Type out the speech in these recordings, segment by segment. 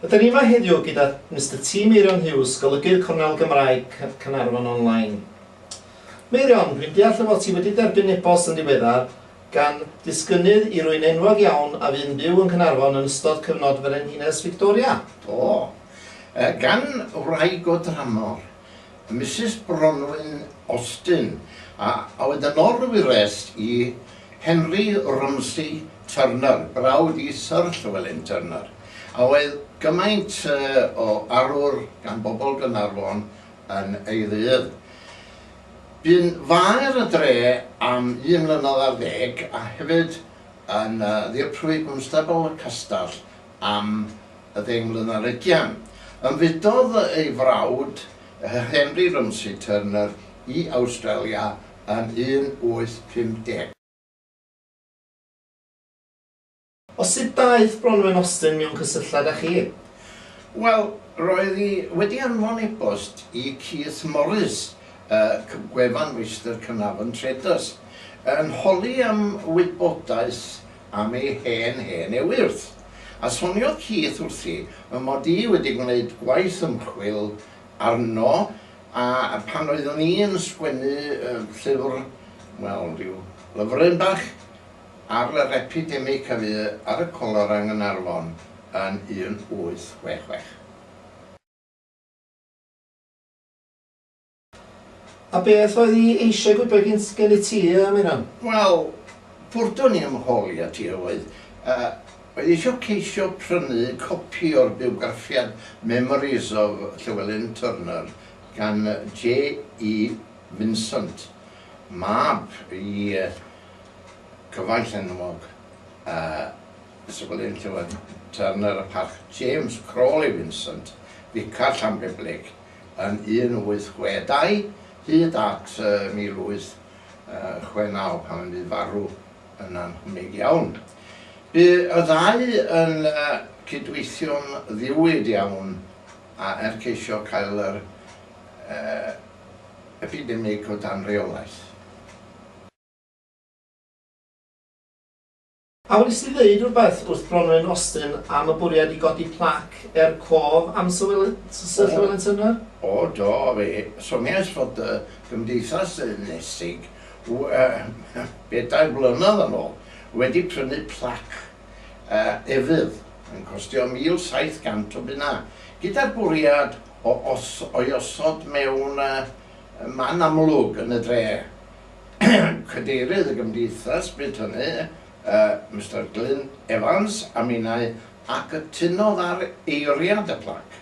Rydyn ni yma heddiw gyda Mister T. Meirion Hughes, Golygydd Cornel Gymraeg Caernarfon Online. Meirion, rwy'n deall y fod ti wedi derbyn e-bost yn ddiweddar gan ddisgynnydd i rywun enwog iawn a fu'n byw yng Nghaernarfon yn ystod cyfnod Frenhines Fictoria. O! Yy gan wraig o dramor, Misus Bronwyn Austin, a oedd yn orwyrest i Henry Romsey Turner, brawd i Syr Llewelyn Turner, a oedd gymaint o arwr gan bobl Gaernarfon yn ei ddydd. Bu'n faer y dre am un mlynedd ar ddeg a hefyd yn ddirprwy gwnstabl y castell am ddeng mlynedd ar ugian. Ymfudodd ei frawd, Henry Rumsey Turner, i Awstralia yn 1850. O sut daeth Bronwen Austin mewn cysylltiad â chi? Wel, roedd hi wedi anfon e-bost i Keith Morris, y gwefan Meistr Caernarfon Traders, yn holi am wybodaeth am ei hen hen ewyrth, a soniodd Keith wrthi fy mod i wedi gwneud gwaith ymchwil arno a phan oeddwn i'n sgwennu llyfr, wel, rhyw lyfryn bach, ar yr epidemig a fu ar y colora yng Nghaernarfon yn 1866. A beth oedd hi eisiau gwybod gen i ti, Meirion? Wel, bwrdd o'n i yn fy holi at hi oedd, oedd hi eisiau ceisio prynu copi o'r bywgraffiad Memories of Llewelyn Turner gan JE. Vincent, mab i Cyfaill enwog a sefydlydd Llywydd Turner y Parc, James Crawley Vincent, Ficar Llanbeblig yn 1862 hyd at 1869 pan fu farw yn annhwnig iawn. Bu y ddau yn cydweithio'n ddiwyd iawn a er ceisio cael yr epidemig o dan reolaeth. A wnest ti ddeud rhywbeth wrth Bronwen Austin am y bwriad i godi plac er cof am Sir Llewelyn Turner? O, do, fe soniais fod y Gymdeithas Ynysig, bedair blynedd yn ôl, wedi prynu plac efydd, yn costio 1,700 o bunnau, gyda'r bwriad o'i osod mewn man amlwg yn y dre, Cadeirydd y Gymdeithas bryd hynny, Mister Glyn Evans, a minnau, a cytunodd ar eiriad y plac,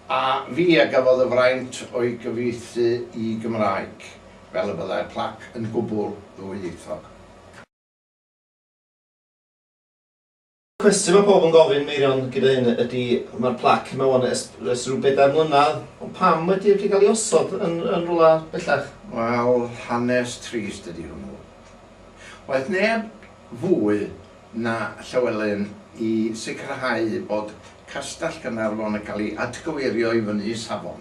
a fi a gafodd y fraint o'i gyfieithu i Gymraeg, fel y byddai'r plac yn gwbl ddwyieithog. Cwestiwn mae pawb yn gofyn, Meirion, gyda hyn ydy, mae'r plac yma wan ers, ers rhyw bedair mlynedd, ond pam wedi wedi cael ei osod yn, yn rywle bellach? Wel, hanes trist ydy hwnnw. Waeth neb fwy na Llywelyn i sicrhau bod Castell Gaernarfon yn cael ei atgyweirio i fyny i safon.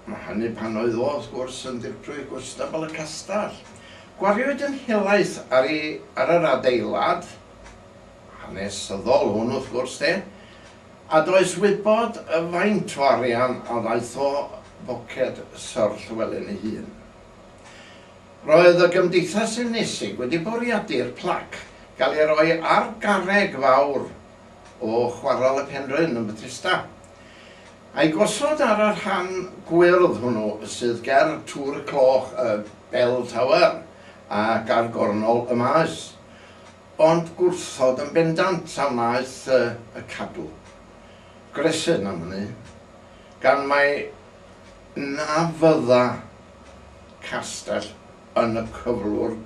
Mae hynny pan oedd o, wrth gwrs, yn Ddirprwy Gwnstabl y Castell. Gwariwyd yn helaeth ar ei, ar yr adeilad hanesyddol hwn, wrth gwrs, de, a does wybod faint o arian a ddaeth o boced Syr Llywelyn ei hun. Roedd y Gymdeithas Unesig wedi bwriadu'r plac gael ei roi ar garreg fawr o Chwarel y Penrhyn yn Bethesda. A'i gosod ar y rhan gwyrdd hwnnw sydd ger Tŵr y Cloch y Bell Tower, ac ar gornol y maes. Ond gwrthod yn bendant a wnaeth y Cadw. Gresyn am hynny, gan mai na fydda Castell yn y cyflwr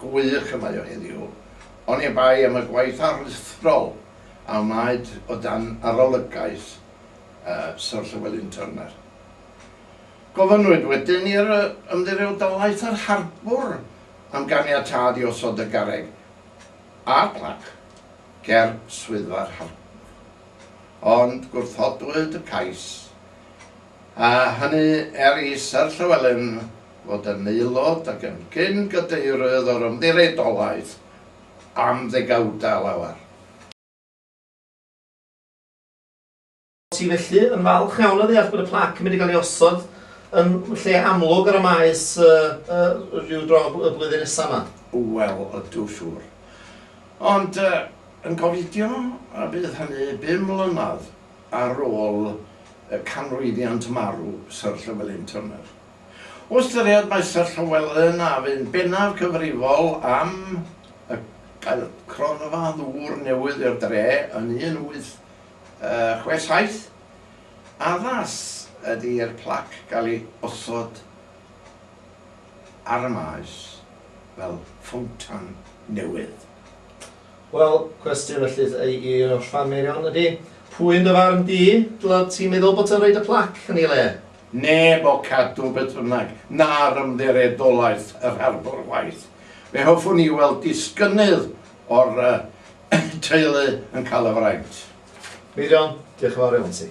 gwych y mae o heddiw, oni bai am y gwaith aruthrol. a wnaed o dan arolygaeth Syr Llewelyn Turner. Gofynnwyd wedyn i'r Ymddiriedolaeth yr Harbwr am ganiatâd i osod y garreg a'r plac ger Swyddfa'r Harbwr, ond gwrthodwyd y cais, a hynny er i Syr Llewelyn fod yn aelod ac yn gyn-gadeirydd o'r Ymddiriedolaeth am ddegawdau lawer. Ti felly yn falch iawn o ddeall bod y plac yn mynd i gael ei osod yn lle amlwg ar y Maes ryw dro y flwyddyn nesaf 'ma? Wel, ydw, siŵr. Ond yn gofidio y bydd hynny bum mlynedd ar ôl canmlwyddiant marw Syr Llewelyn Turner. O ystyried mai Sir Llywelyn a fu'n bennaf cyfrifol am y gael cronfa ddŵr newydd i'r dre yn 1867, addas ydy i'r plac gael ei osod ar y maes fel ffowntan newydd. Wel, cwestiwn ellith ei un o'r ffameirion ydy, pwy yn dy farn di, dyled ti meddwl bod yn rhoid y plac yn ei le? Neb o Cadw beth bynnag, na'r Ymddiredolaeth yr Harbwr chwaith. Fe hoffwn i weld disgynnydd o'r teulu yn cael y fraint. Meirion, diolch yn fawr iawn ti.